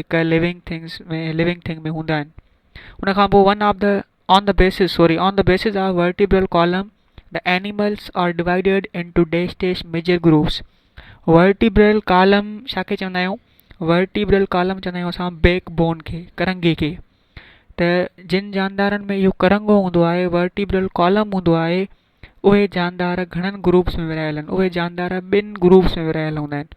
هڪ living things ۾ Living Thing ۾ هوندا آهن ان کان پوء one of the on the bases sorry on the bases of vertebral column the animals are divided into dash dash major groups vertebral column ڇا کي چوندا آهيون ورٽيبرل ڪالم چوندا آهيون اسان بيڪ بون کي ڪرنگهي کي ته جن جاندارن ۾ اهو ڪرنگهو هوندو آهي ورٽيبرل ڪالم هوندو آهي اهي جاندار گهڻن گروپس ۾ ورهايل آهن اهي جاندار ٻن گروپس ۾ ورهايل هوندا آهن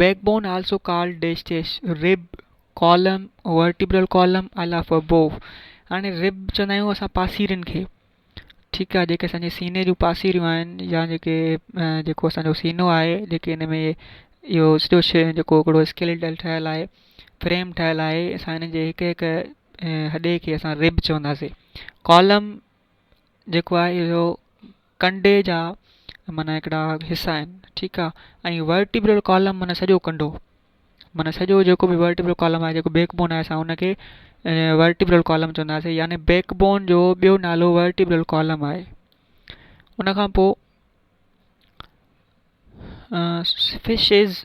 backbone also called dash dash rib column vertebral column الاف بو هاڻي رب چوندا آهيون اسان پاسيرين کي ٺيڪ آهي جيڪي اسانجي سيني جون پاسيريون آهن يا جيڪي جيڪو اسانجو سينو آهي جيڪي ان ۾ اهو سڄو شي جيڪو هڪڙو اسڪيليٽل ٺهيل آهي فريم ٺهيل آهي اسان ان جي هڪ هڪ هڏي کي اسان رب چونداسين ڪالم جيڪو آهي اهو ڪنڊي جا معنيٰ هڪڙا حصا آهن ٺيڪ آهي ۽ ورٽيبرل ڪالم معنيٰ سڄو ڪنڊو معنيٰ سڄو جيڪو به ورٽيبرل ڪالم آهي جيڪو بيڪ بون آهي اسان ان کي ورٽيبرل ڪالم چونداسين يعني بيڪ بون جو ٻيو نالو ورٽيبرل ڪالم آهي ان کان پوء فشز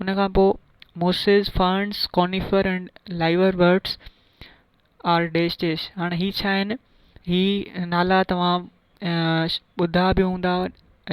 ان کان پوء mosses, ferns, conifer ۽ liverworts are dash dash هاڻي هي ڇا آهن؟ هي نالا توهان ٻڌا به هوندا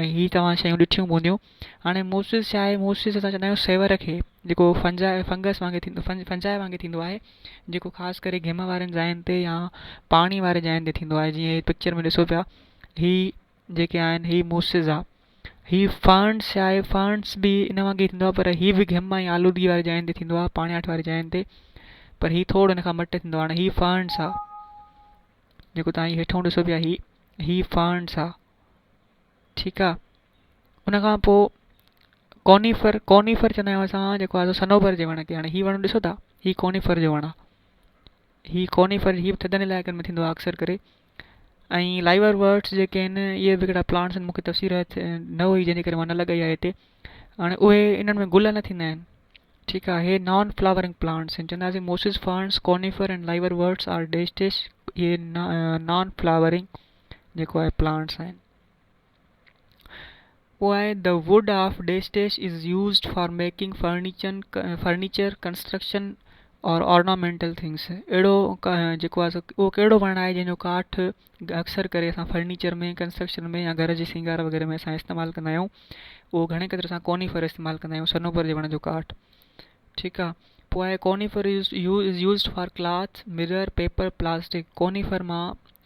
۽ هي توهان شيون ڏٺيون به هونديون هاڻي موسز ڇا آهي؟ موسز اسان چوندا آهيون سيور کي جيڪو فنجاء فنگس وانگي ٿيندو فنجاء وانگي ٿيندو آهي جيڪو خاص ڪري گهم وارين جاين تي يا پاڻي واري جاين تي ٿيندو آهي جيئن هي پڪچر ۾ ڏسو پيا هي جيڪي آهن هي موسزا هي فارنس يا هي فارنس به ان وانگي ٿيندو آهي پر هي به گهم ۽ آلودگي واري جاين تي ٿيندو آهي پاڻياٺ واري جاين تي پر هي ٿوڙ ان کان مٽ ٿيندو آهي هاڻي هي فارنس آهي جيڪو تان هي هيٺون ڏسو پيا هي هي فارنس آهي ٺيڪ آهي ان کان پوء ڪونيفر ڪونيفر چوندا آهيون اسان جيڪو آهي سنوبر جي وڻ کي هاڻي هي وڻ ڏسو ٿا هي ڪونيفر جو وڻ آهي هي ڪونيفر هي ٿڌن علائقن ۾ ٿيندو آهي اڪثر ڪري ۽ لائيور ورڊس جيڪي آهن اهي به هڪڙا پلانٽس آهن مون کي تفصيل نه هئي جنهن جي ڪري مان نه لڳائي آهي هتي هاڻي اهي انهن ۾ گل نه ٿيندا آهن ٺيڪ آهي هي نان فلاورنگ پلانٽس آهن چونداسي mosses ferns conifer ۽ liverworts are dash dash اهي نان فلاورنگ جيڪو آهي پلانٽس آهن پوء The Wood of Deshdesh is used for making furniture, construction or ornamental things اهڙو جيڪو آهي اهو ڪهڙو وڻ آهي جنهن جو ڪاٺ اڪثر ڪري اسان فرنيچر ۾ ڪنسٽرڪشن ۾ يا گهر جي سينگار وغيره ۾ اسان استعمال ڪندا آهيون اهو گهڻي قدر اسان ڪوني فر استعمال ڪندا آهيون صنوبر جي وڻ جو ڪاٺ ٺيڪ آهي پوء conifer is used for cloth mirror paper plastic conifer مان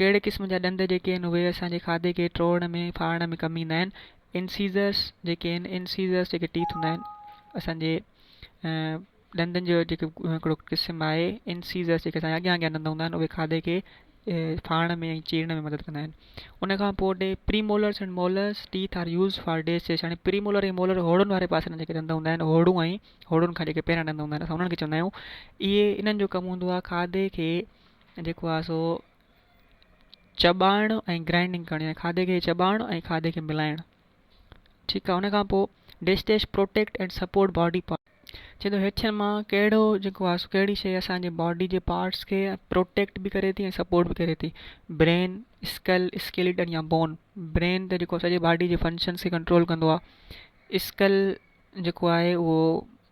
ڪهڙي قسم جا ڏند جيڪي آهن اهي اسان جي کاڌي کي ٽوڙڻ ۾ ڦاڙڻ ۾ ڪم ايندا آهن Incisors جيڪي آهن Incisors جيڪي ٽيٿ هوندا آهن اسان جي ڏندن جو جيڪو هڪڙو قسم آهي Incisors جيڪي اسان جا اڳيان اڳيان ڏند هوندا آهن اهي کاڌي کي ڦاڙڻ ۾ ۽ چيرڻ ۾ مدد ڪندا آهن ان کان پوء the premolars and molars teeth are use for dash dash هاڻي پري مولر ۽ مولر هوڙن واري پاسي ڏانهن جيڪي ڏند هوندا آهن هوڙون ۽ هوڙن کان جيڪي پهريان ڏند هوندا آهن اسان انهن کي چوندا آهيون اهي انهن جو ڪم هوندو آهي کاڌي کي جيڪو آهي سو چٻائڻ ۽ گرائنڊنگ ڪرڻ يعني کاڌي کي چٻائڻ ۽ کاڌي کي ملائڻ ٺيڪ آهي ان کان پوء dash dash protect and support body part چي ٿو هيٺين مان ڪهڙو جيڪو آهي سو ڪهڙي شيء اسان جي باڊي جي پارٽس کي پروٽيڪٽ به ڪري ٿي ۽ سپورٽ به ڪري ٿي برين اسڪل اسڪيليٽن يا بون برين ته جيڪو سڄي باڊي جي فنڪشنس کي ڪنٽرول ڪندو آهي اسڪل جيڪو آهي اهو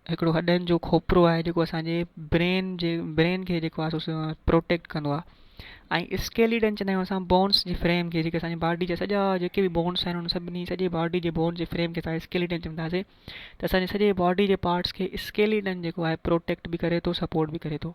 هڪڙو هڏن جو کوپرو آهي جيڪو اسان جي برين جي برين کي جيڪو آهي سو پروٽيڪٽ ڪندو آهي ۽ اسڪيليڊن چوندا آهيون اسان بونس جي فريم کي جيڪي اسان جي باڊي جا سڄا جيڪي به بونس آهن ان سڀني سڄي باڊي جي بونس جي فريم کي اسان اسڪيليڊن چونداسين ته اسان جي سڄي باڊي جي پارٽس کي اسڪيليڊن جيڪو آهي پروٽيڪٽ به ڪري ٿو سپورٽ به ڪري ٿو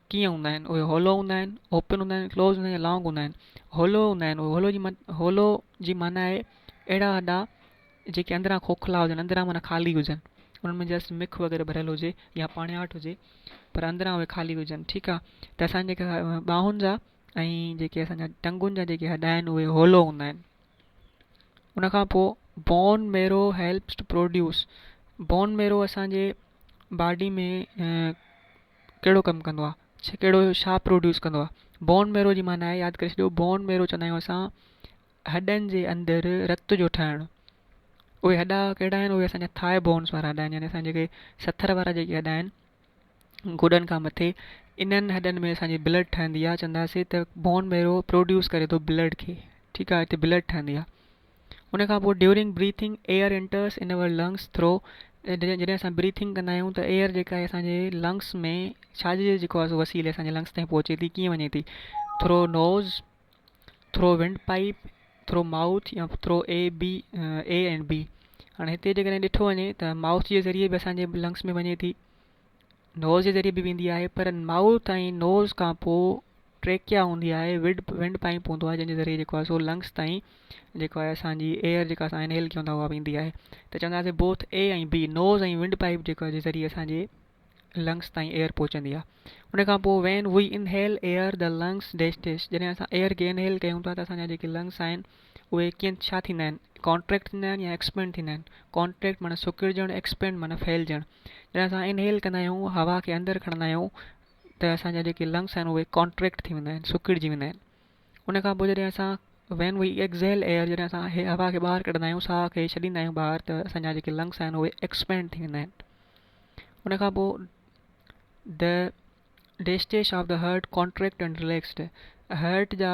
ڪيئن هوندا آهن اهي هولو هوندا آهن اوپن هوندا آهن ڪلوز هوندا آهن يا لانگ هوندا آهن هولو هوندا آهن اهي هولو جي مت هولو جي معنيٰ آهي اهڙا هڏا جيڪي اندران کوکلا هجن اندران معنيٰ خالي هجن انهن ۾ جسٽ مک وغيره ڀريل هجي يا پاڻياٺ هجي پر اندران اهي خالي هجن ٺيڪ آهي ته اسان جيڪي ٻاهن جا ۽ جيڪي اسان جا ٽنگن جا جيڪي هڏا آهن اهي هولو هوندا آهن ان کان پوء bone marrow helps to produce bone marrow اسان جي باڊي ۾ ڪهڙو ڪم ڪندو آ ڇا ڪهڙو ڇا پروڊيوس ڪندو آ بون ميرو جي معنيٰ آهي ياد ڪري ڇڏيو بون ميرو چوندا آهيون اسان هڏن جي اندر رت جو ٺهڻ اهي هڏا ڪهڙا آهن اهي اسان جا ٿاء بونس وارا هڏا آهن يعني اسان جيڪي سٿر وارا جيڪي هڏا آهن گوڏن کان مٿي انهن هڏن ۾ اسان جي بلڊ ٺهندي آ چونداسي ته بون ميرو پروڊيوس ڪري ٿو بلڊ کي ٺيڪ آ هتي بلڊ ٺهندي آ ان کان پوء during breathing air enters in our lungs through جڏهن اسان بريٿنگ ڪندا آهيون ته ايئر جيڪا آهي اسان جي لنگس ۾ ڇاجي جي جيڪو آهي وسيلي اسان جي لنگس تائين پهچي ٿي ڪيئن وڃي ٿي through nose through wind pipe through mouth يا through A B A and B هاڻي هتي جيڪڏهن ڏٺو وڃي ته ماؤٿ جي ذريعي به اسان جي لنگس ۾ وڃي ٿي نوز جي ذريعي به ويندي آهي پر مائوٿ ۽ نوز کان پوء ٽريڪيا هوندي آهي وڊ وينڊ پائيپ هوندو آهي جنهن جي ذريعي جيڪو آهي سو لنگس تائين جيڪو آهي اسان جي ايئر جيڪا اسان انهيل ڪيون ٿا اها ويندي آهي ته چونداسين both A ۽ B nose ۽ windpipe جيڪو جي ذريعي اسان جي لنگس تائين ايئر پهچندي آهي ان کان پوء وين وي انهيل ايئر ته لنگس ڊيش ڊيش جڏهن اسان ايئر کي انهيل ڪيون ٿا ته اسان جا جيڪي لنگس آهن اهي ڪين ڇا ٿيندا آهن ڪانٽريڪٽ ٿيندا آهن يا ايڪسپينڊ ٿيندا آهن ڪانٽريڪٽ معنيٰ سڪڙجڻ ايڪسپينڊ معنيٰ ڦهلجڻ جڏهن اسان انهيل ڪندا آهيون هوا کي اندر کڻندا آهيون ته اسان جا جيڪي لنگس آهن اهي ڪانٽريڪٽ ٿي ويندا آهن سڪڙجي ويندا آهن ان کان پوء جڏهن اسان وين وي ايڪزيل ايئر جڏهن اسان هي هوا کي ٻاهر ڪڍندا آهيون ساهه کي ڇڏيندا آهيون ٻاهر ته اسان جا جيڪي لنگس آهن اهي ايڪسپينڊ ٿي ويندا آهن ان کان پوء ڊيسٽيش of the heart contract and relaxed heart جا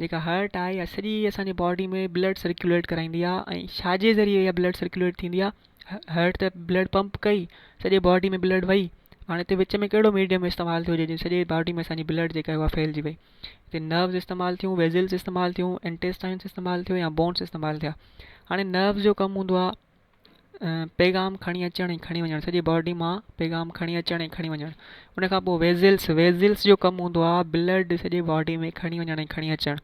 جيڪا هارٽ آهي يا سڄي اسان جي باڊي ۾ بلڊ سرڪيوليٽ ڪرائيندي آهي ۽ ڇا جي ذريعي اها بلڊ سرڪيوليٽ ٿيندي آهي هارٽ ته بلڊ پمپ ڪئي سڄي باڊي ۾ بلڊ وئي هاڻي هتي وچ ۾ ڪهڙو ميڊيم استعمال ٿيو جنهن سڄي باڊي ۾ اسان جي بلڊ جيڪا اها ڦهلجي وئي هتي نروز استعمال ٿيون ويزلس استعمال ٿيون انٽيسٽائنس استعمال ٿيو يا بونس استعمال ٿيا هاڻي نروز جو ڪم هوندو آهي پيغام کڻي اچڻ ۽ کڻي وڃڻ سڄي باڊي مان پيغام کڻي اچڻ ۽ کڻي وڃڻ ان کان پوء ويزلس ويزلس جو ڪم هوندو آهي بلڊ سڄي باڊي ۾ کڻي وڃڻ ۽ کڻي اچڻ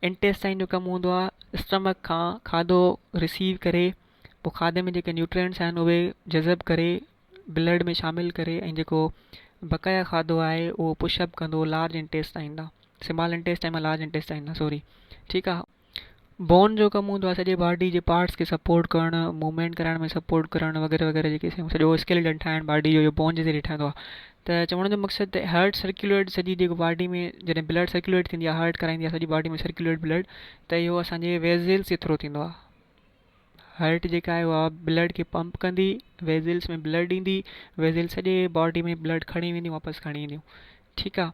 انٽيسٽائن جو ڪم هوندو آهي اسٽمڪ کان کاڌو رسيو ڪري پوء کاڌي ۾ جيڪي نيوٽرينس آهن اهي جذب ڪري بلڊ ۾ شامل ڪري ۽ جيڪو بقايا کاڌو آهي اهو پش اپ ڪندو لارج انٽيسٽائن ڏانهن سمال انٽيسٽائن مان لارج انٽيسٽائن ڏانهن سوري ٺيڪ آهي بون جو ڪم هوندو آهي سڄي باڊي جي پارٽس کي سپورٽ ڪرڻ موومينٽ ڪرائڻ ۾ سپورٽ ڪرڻ وغيره وغيره جيڪي شيون سڄو اسڪيلٽن ٺاهڻ باڊي جو بون جي ذريعي ٺهندو آهي ته چوڻ جو مقصد ته هارٽ سرڪيوليٽ سڄي جيڪو باڊي ۾ جڏهن بلڊ سرڪيوليٽ ٿيندي آهي هارٽ ڪرائيندي آهي سڄي باڊي ۾ سرڪيوليٽ بلڊ ته اهو اسانجي ويزلس جي ٿرو ٿيندو آهي هارٽ جيڪا آهي اها بلڊ کي پمپ ڪندي ويزلس ۾ بلڊ ڏيندي ويزل سڄي باڊي ۾ بلڊ کڻي وينديون واپس کڻي اينديون ٺيڪ آهي